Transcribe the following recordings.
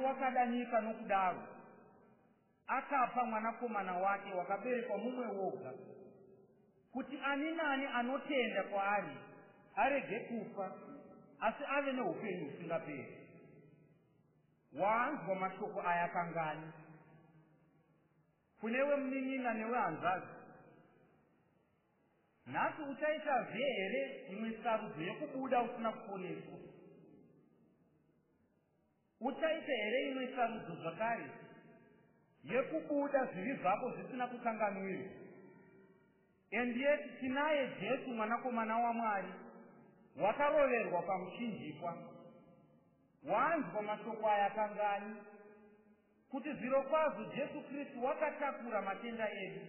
Wakadanyika nokudaro, akapa Mwanakomana wake wakaberekwa mumwe woga, kuti ani nani anotenda kwaari arege kufa, asi ave noupenyu husingaperi. Waanzwa mashoko aya kangani? Kunewe munin'ina newe hanzvadzi, nhasi uchaitazve here imwe sarudzo yokubuda usina kuponeswa? Uchaita here imwe sarudzo zvakare yekubuda zvivi zvako zvisina kukanganwirwa? And yet tinaye Jesu mwanakomana waMwari wakaroverwa pamuchinjikwa. Wanzwa mashoko aya kangani? Kuti zvirokwazvo Jesu Kristu wakatakura matenda edu.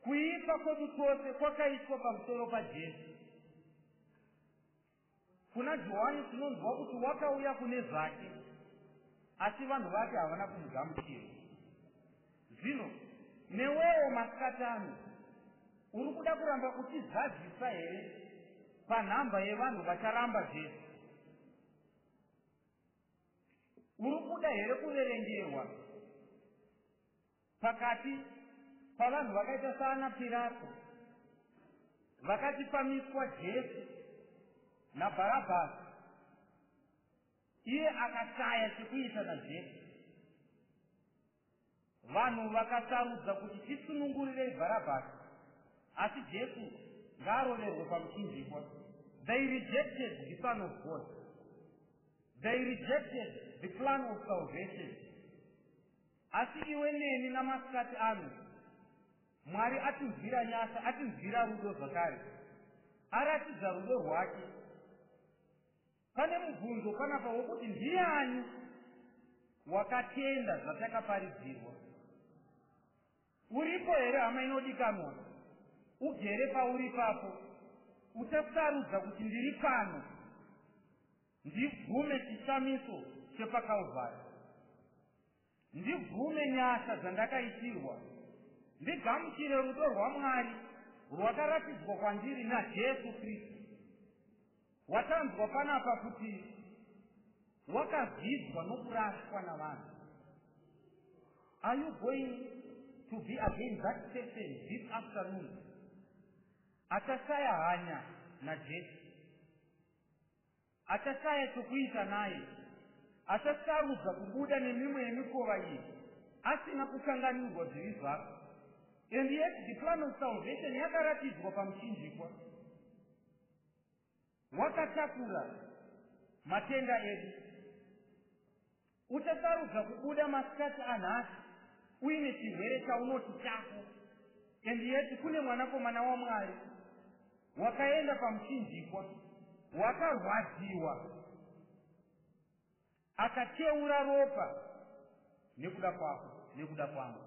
Kuipa kwedu tose kwakaiswa pamusoro paJesu. Kuna Johani tinonzwa kuti wakauya kune zvake, asi vanhu vake havana kumugamuchira. Zvino, newewo masikati ano, uri kuda kuramba uchizadzisa here panhamba yevanhu vacharamba Jesu? Uri kuda here kuverengerwa? Pakati pavanhu vakaita saana Pirato vakati pamiswa Jesu naBharabhasi, iye akashaya chekuita naJesu. Vanhu vakasarudza kuti tisunungurirei Bharabhasi, asi Jesu ngaaroverwe pamuchinjikwa. They rejected the Son of God. They rejected the plan of salvation. Asi iwe neni namasikati ano. Mwari atinzwira nyasha, atinzwira rudo zvakare. Aratidza rudo rwake. Pane mubvunzo panapa wokuti ndiani wakatenda zvatakaparidzirwa? Uripo here hama inodikanwa? Ugere pauri ipapo. Uchasarudza kuti ndiri pano. Ndibvume chishamiso chepaKalvari. Ndibvume nyasha dzandakaitirwa. Ndigamuchire rudo rwaMwari rwakaratidzwa kwandiri naJesu Kristu. Watanzwa panapa kuti wakazvidzwa nokurashwa navanhu. Are you going to be again that person this afternoon? Achashaya hanya naJesu. Achashaya chokuita naye. Achasarudza kubuda nemimwe yemikova iyi asina kukanganwirwa zvivi zvake. And yet the plan of salvation yakaratidzwa pamuchinjikwa wakatakura matenda edu. Uchasarudza kubuda masikati anhasi uine chirwere chaunoti chako and yet kune Mwanakomana waMwari wakaenda pamuchinjikwa, wakarwadziwa, akateura ropa nekuda kwako, nekuda kwangu.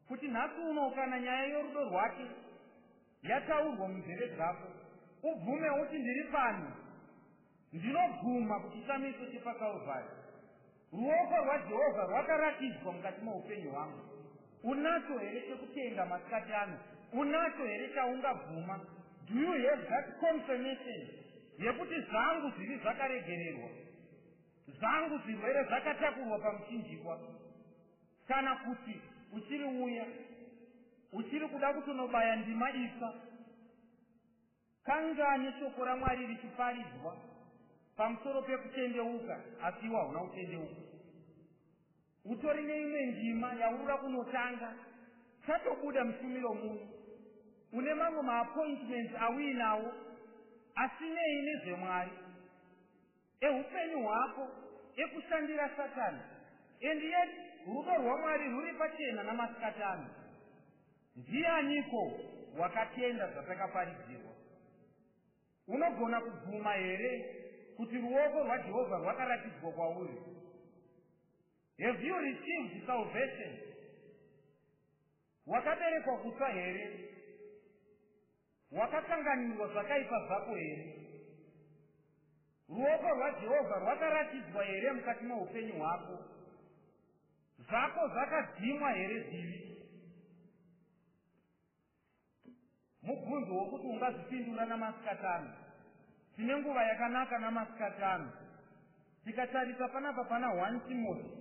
Kuti nhasi uno kana nyaya yorudo rwake yataurwa munzeve dzako, ubvume uti, Ndiri pano. Ndinobvuma kuchishamiso chepaKalvhari. Ruoko rwaJehovha rwakaratidzwa mukati moupenyu hwangu. Unacho here chekutenda masikati ano? Unacho here chaungabvuma? Do you have that confirmation yekuti zvangu zvivi zvakaregererwa, zvangu zvirwere zvakatakurwa pamuchinjikwa? Kana kuti uchiri uya uchiri kuda kutonobaya ndima itsva kangani shoko raMwari richiparidzwa pamusoro pekutendeuka asi iwe hauna kutendeuka. Utori neimwe ndima yaurura kunotanga, chatobuda mushumiro muno, une mamwe maappointments auinawo asi nei nezveMwari? Ehupenyu hwako ekushandira satani and yet rudo rwamwari ruri pachena namasikati ano ndianiko wakatenda zvatakaparidzirwa unogona kubvuma here kuti ruoko rwajehovha rwakaratidzwa kwauri have you received salvation wakaberekwa kutsva here Wakakanganwirwa zvakaipa zvako here? Ruoko rwaJehovha rwakaratidzwa here mukati meupenyu hwako? Zvako zvakadzimwa here zivi? Mubvunzo wokuti ungazvipindura namasikatano. Tine nguva yakanaka namasikatano. Tikatarisa panapa pana 1 Timoti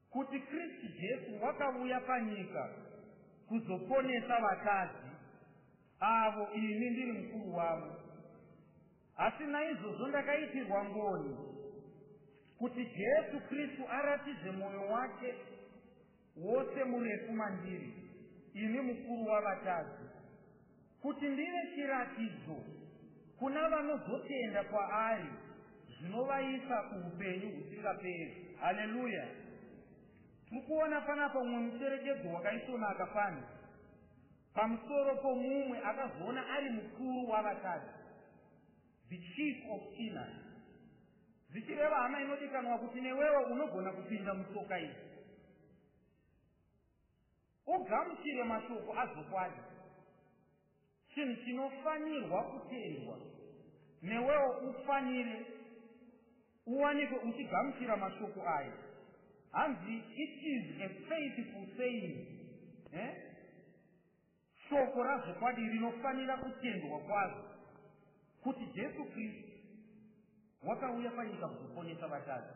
Kuti Kristu Jesu wakavuya panyika kuzoponesa vakadzi, avo ini ndiri mukuru wavo. Asi naizvozvo ndakaitirwa ngoni, kuti Jesu Kristu aratidze mwoyo wake wose murefu mandiri, ini mukuru wavatadzi. Kuti ndive chiratidzo kuna vanozotenda kwaari zvinovaisa kuhupenyu husingaperi. Haleluya! Tiri kuona panapa umwe mucherechedzo wakaisvonaka pano pamusoro pomumwe akazoona ari mukuru wavatadzi, the chief of sinners. Zvichireva hama inodikanwa kuti newewo unogona kupinda mutsoka idzi. Ugamuchire mashoko azvokwadi chinhu chinofanirwa kutendwa. Newewo ufanire uwanikwe uchigamuchira mashoko aya. Hanzi it is a faithful saying. Eh? Shoko razvokwadi rinofanira kutendwa kwazvo kuti Jesu Kristu wakauya panyika kuzoponesa vatadzi.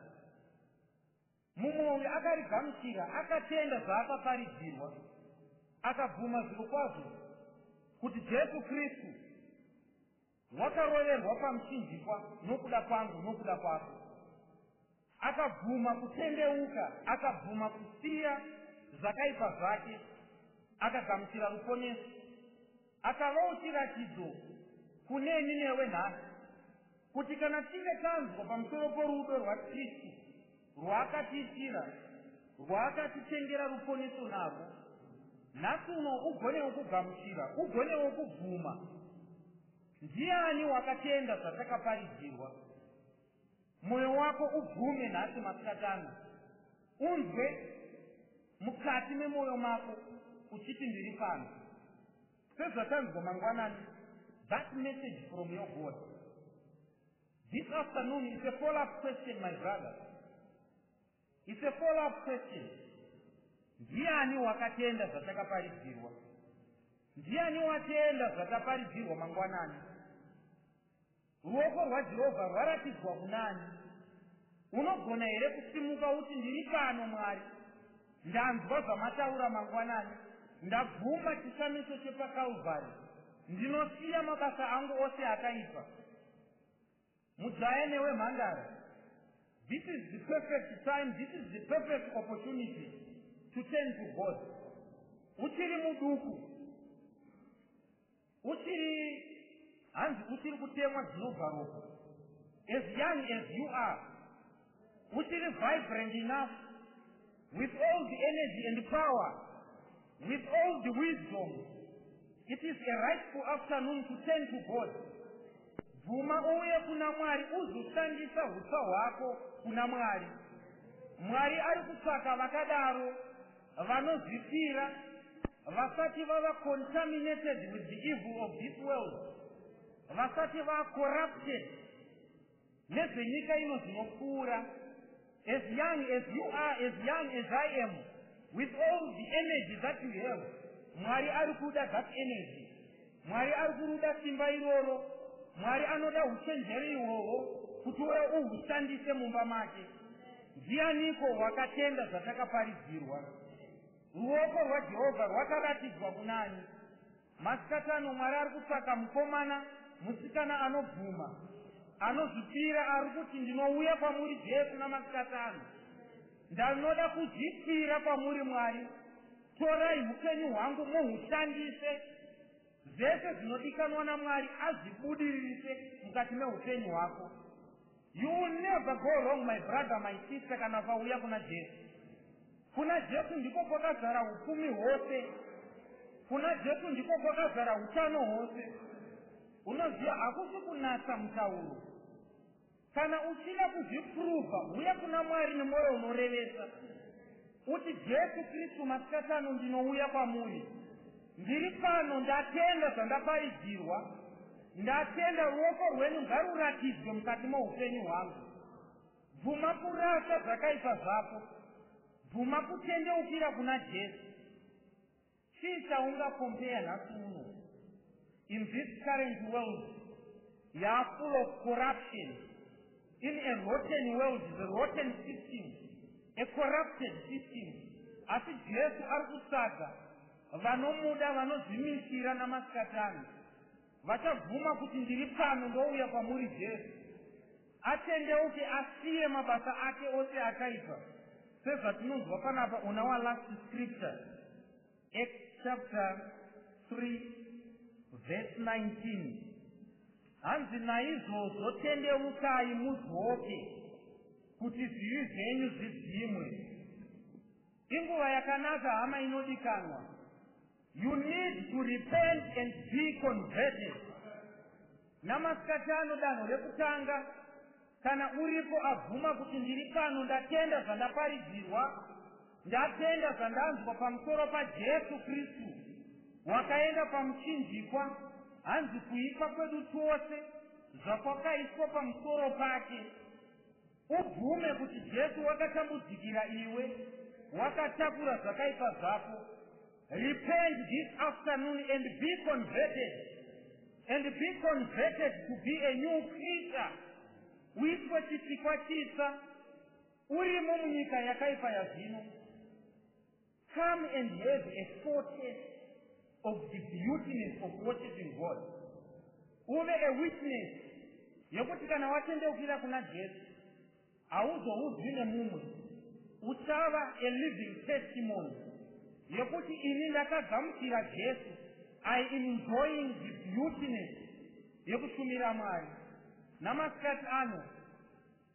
Mumwe uyu akarigamuchira, akatenda zvaakaparidzirwa, akabvuma zvirokwazvo kuti Jesu Kristu wakaroverwa pamuchinjikwa nokuda kwangu, nokuda kwako. Akabvuma kutendeuka, akabvuma kusiya zvakaipa zvake, akagamuchira ruponeso. Akavawo chiratidzo kuneni newe nhasi, Kuti kana tinge tanzwa pamusoro porudo rwaKristu rwaakatiitira, rwaakatitengera ruponeso narwo, nhasi uno ugonewo kugamuchira, ugonewo kubvuma. Ndiani wakatenda zvatakaparidzirwa? Mwoyo wako ubvume nhasi masikati ano. Unzwe mukati memwoyo mako uchiti, Ndiri pano. Sezvatanzwa mangwanani that message from your God this afternoon is a follow up question my brother is a follow up question ndiani wakatenda zvatakaparidzirwa ndiani watenda zvataparidzirwa mangwanani Ruoko rwaJehovha rwaratidzwa kunaani? Unogona here kusimuka uti, Ndiri pano, Mwari. Ndanzwa zvaMataura mangwanani. Ndabvuma chishamiso chepaKalvari. Ndinosiya mabasa angu ose akaipa. Mujaya newe mhandara, this is the perfect time, this is the perfect opportunity to turn to God. Uchiri muduku. Uchiri hanzi uchiri kutemwa dzinobva ropa as young as you are uchiri vibrant enough with all the energy and power with all the wisdom it is a rightful afternoon to turn to god bvuma uuye kuna mwari uzoshandisa utsva hwako kuna mwari mwari ari kutsvaka vakadaro Vanozvipira vasati vava contaminated with the evil of this world, vasati vaa corrupted nezvenyika ino zvinopfuura, as young as you are, as young as I am, with all the energy that you have, Mwari ari kuda that energy. Mwari ari kuruda simba iroro. Mwari anoda uchenjeri ihwohwo kuti uye uhushandise mumba make. Ndianiko wakatenda zvatakaparidzirwa? Ruoko rwaJehovha rwakaratidzwa kunani? Masikati ano Mwari ari kutsvaka mukomana, musikana anobvuma, anozvipira ari kuti, Ndinouya kwamuri Jesu namasikati ano. Ndanoda kuzvipira kwamuri Mwari. Torai hupenyu hwangu muhushandise, zvese zvinodikanwa naMwari azvibudiririse mukati mehupenyu hwako. You will never go wrong my brother my sister kana ukauya kuna Jesu. Kuna Jesu ndiko kwakazara hupfumi hwose. Kuna Jesu ndiko kwakazara hutano hwose. Unoziva hakusi kunatsa mutauro. Kana uchida kuzvipuruva, huya kuna Mwari nemoyo unorevesa. Uti, Jesu Kristu, masikati ano ndinouya kwamuri. Ndiri pano, ndatenda zvandaparidzirwa. Ndatenda ruoko rwenyu ngaruratidzwe mukati moupenyu hwangu. Bvuma kurasa zvakaipa zvako. Bvuma kutendeukira kuna Jesu. Chii chaunga compare nhasi uno in this current world yaa full of corruption in a rotten world the rotten system a corrupted system asi jesu ari kutsvaga vanomuda vanozvimisira namasikatani Vachabvuma kuti ndiri pano ndouya kwamuri Jesu. Atendeuke asiye mabasa ake ose akaipa. Sezvatinonzwa panapa ona wa last scripture. Acts chapter 3 verse 19. Hanzi naizvozvo tendeukai mudzoke kuti zvivi zvenyu zvidzimwe. Inguva yakanaka hama inodikanwa. You need to repent and be converted. Namasikati ano danho rekutanga kana uripo abvuma kuti ndiri pano ndatenda zvandaparidzirwa ndatenda zvandanzwa pamusoro paJesu Kristu wakaenda pamuchinjikwa hanzi kuipa kwedu twose zvakwakaiswa pamusoro pake Ubvume kuti Jesu wakatambudzikira iwe, wakatakura zvakaipa zvako. Repent this afternoon and be converted and be converted to be a new creature. Uitwe chisikwa chitsa urimo munyika yakaipa yazvino. Come and have a foretaste of the beautiness of worshiping God. Uve a witness yekuti kana watendeukira kuna Jesu hauzoudzwi nemumwe. Uchava a living testimony yekuti ini ndakagamuchira Jesu. I am enjoying the beautiness yekushumira Mwari. Namasikati ano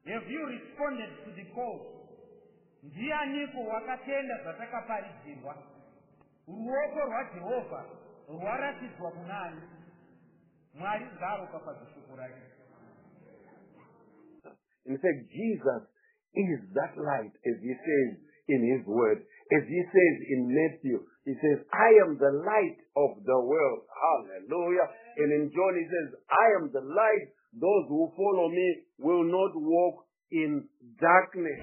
Have you responded to the call? Ndianiko wakatenda zvatakaparidzirwa? Ruoko rwaJehovha rwaratidzwa kunaani? Mwari ngaaropafadze shoko rake. In fact, Jesus is that light, as he says in his word. As he says in Matthew, he says, I am the light of the world. Hallelujah. And in John, he says, I am the light those who follow me will not walk in darkness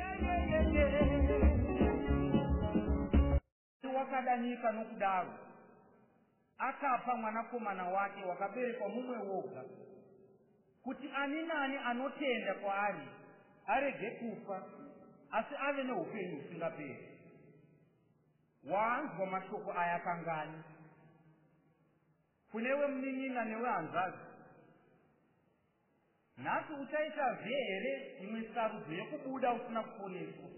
wakadanyika nokudaro akapa mwanakomana wake wakaberekwa mumwe woga kuti ani nani anotenda kwaari arege kufa asi ave neupenyu husingaperi waanzwa mashoko aya kangani Kune wemunin'ina newehanzvadzi. Nhasi uchaitazve here imwe sarudzo yekubuda usina kuponeswa?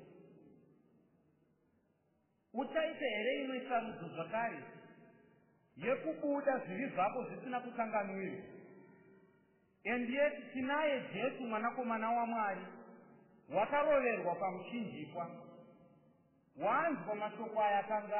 Uchaita here imwe sarudzo zvakare yekubuda zvivi zvako zvisina kukanganwirwa? And yet tinaye Jesu mwanakomana waMwari wakaroverwa pamuchinjikwa. Wanzwa mashoko aya kangaa?